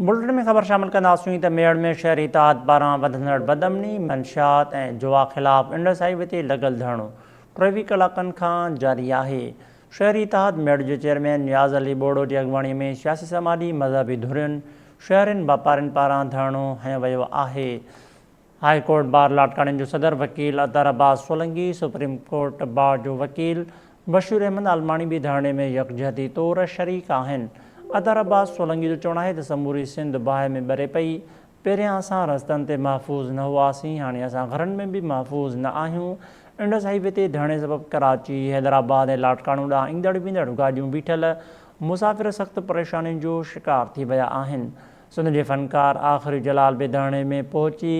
Built-in ۾ خبر شامل ڪنداسين ته ميڙ ۾ شهري اتحاد پاران وڌندڙ بدامني، منشيات ۽ جوا خلاف انڊس هاء وي تي لڳل ڌرڻو ٽيوي ڪلاڪن کان جاري آهي. شهري اتحاد ميڙ جو چيئرمين نياز علي ٻوڙو جي اڳواڻي ۾ سياسي سماجي مذهبي ڌرين، شهرين واپارين پاران ڌرڻو هنيو ويو آهي. هاء ڪورٽ بار لاڙڪاڻي جو صدر وڪيل Athar Abbas Solangi, supreme court bar جو وڪيل بشير احمد عالماڻي به ڌرڻي ۾ يڪجهتي طور شريڪ آهن. اطهر عباس سولنگي جو چوڻ آهي ته سموري سنڌ باهه ۾ ٻري پئي، پهريان اسان رستن تي محفوظ نه هئاسين، هاڻي اسان گهرن ۾ به محفوظ نه آهيون، انڊس هاء وي تي ڌرڻي سبب ڪراچي، حيدرآباد ۽ لاڙڪاڻو ڏانهن ايندڙ ويندڙ گاڏيون بيٺل، مسافر سخت پريشانين جو شڪار ٿي ويا آهن. سنڌ جي فنڪار آخري جلال بيداڻي ۾ پهچي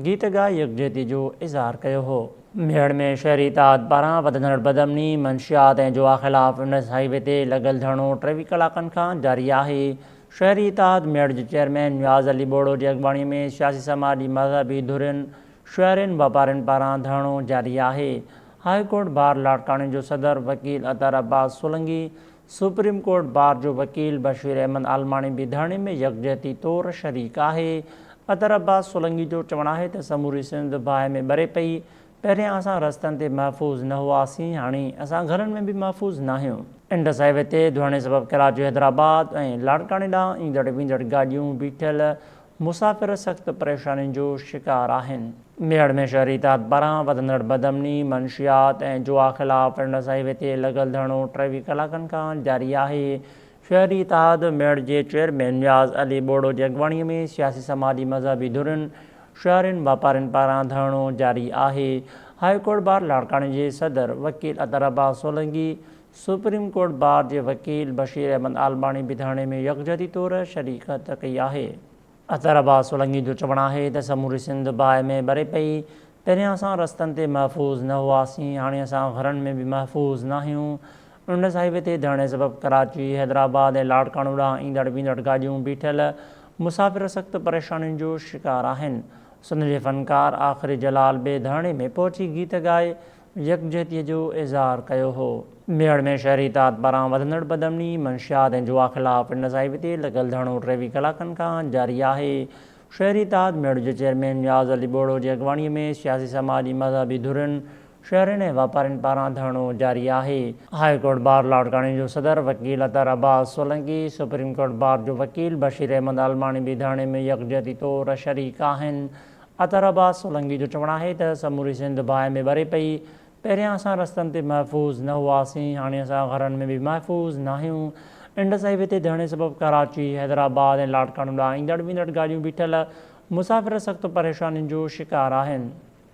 گيت ڳائي يڪجهتي جو اظهار ڪيو هو. ميهڙ ۾ شهري اتحاد پاران وڌندڙ بدامني، منشيات ۽ جوا خلاف انڊس هاء وي تي لڳل ڌرڻو ٽيويهه ڪلاڪن کان جاري آهي. شهري اتحاد ميهڙ جي چيئرمين نياز علي ٻوڙو جي اڳواڻي ۾ سياسي سماجي مذهبي ڌرين، شهرين، واپارين پاران ڌرڻو جاري آهي. هاء ڪورٽ بار لاڙڪاڻي جو صدر وڪيل Athar Abbas Solangi supreme court bar جو وڪيل بشير احمد عالماڻي به ڌرڻي ۾ يڪجهتي طور شريڪ آهي. اطهر عباس سولنگي جو چوڻ آهي ته سموري سنڌ باهه ۾ ٻري پئي، پهريان اسان رستن تي محفوظ نه هئاسين، هاڻي اسان گهرن ۾ به محفوظ ناهيون. انڊس هاء وي تي ڌرڻي سبب ڪراچي حيدرآباد ۽ لاڙڪاڻي ڏانهن ايندڙ ويندڙ گاڏيون بيٺل مسافر سخت پريشانين جو شڪار آهن. ميڙ ۾ شهري تحت پاران وڌندڙ بدامني، منشيات ۽ جوا خلاف پنڊ صاحب تي لڳل ڌرڻو ٽيويهه ڪلاڪن کان جاري آهي. شهري اتحاد ميڙ جي چيئرمين نياز علي ٻوڙو جي اڳواڻي ۾ سياسي سماجي مذهبي ڌرين، شهرين واپارين پاران ڌرڻو جاري آهي. هاء ڪورٽ بار لاڙڪاڻي جي صدر وڪيل Athar Abbas Solangi supreme court bar جي وڪيل بشير احمد عالماڻي به ڌرڻي ۾ يڪجهتي طور شريڪت ڪئي آهي. اطهر عباس سولنگي جو چوڻ آهي ته سموري سنڌ باهه ۾ ٻري پئي، پهريان اسان رستن تي محفوظ نه هئاسين، هاڻي اسان گهرن ۾ به محفوظ ناهيون، انڊس هاء وي تي ڌرڻي سبب ڪراچي، حيدرآباد ۽ لاڙڪاڻو ڏانهن ايندڙ ويندڙ گاڏيون بيٺل مسافر سخت پريشانين جو شڪار آهن، سنڌ جي فنڪار آخري جلال به ڌرڻي ۾ پهچي گيت ڳائي يڪجهتيء جو اظهار ڪيو هو. ميڙ ۾ شهري اتحاد پاران وڌندڙ بدامني، منشيات ۽ جوا خلاف ان صاحبي تي لڳل ڌرڻو ٽيويهه ڪلاڪن کان جاري آهي. شهري اتحاد ميڙ جي چيئرمين نياز علي ٻوڙو جي اڳواڻيء ۾ سياسي سماجي مذهبي ڌرين، شهرين ۽ واپارين پاران ڌرڻو جاري آهي. هاء ڪورٽ بار لاڙڪاڻي جو صدر وڪيل Athar Abbas Solangi, supreme court bar جو وڪيل بشير احمد عالماڻي به ڌرڻي ۾ يڪجهتي طور شريڪ آهن. عطر عباس سولنگي جو چوڻ آهي ته سموري سنڌ باهه ۾ ٻري پئي، پهريان اسان رستن تي محفوظ نه هئاسين، هاڻي اسان گهرن ۾ به محفوظ ناهيون، انڊس هاء وي تي ڌرڻي سبب ڪراچي، حيدرآباد ۽ لاڙڪاڻو ڏانهن ايندڙ ويندڙ گاڏيون بيٺل، مسافر سخت پريشانين جو شڪار آهن.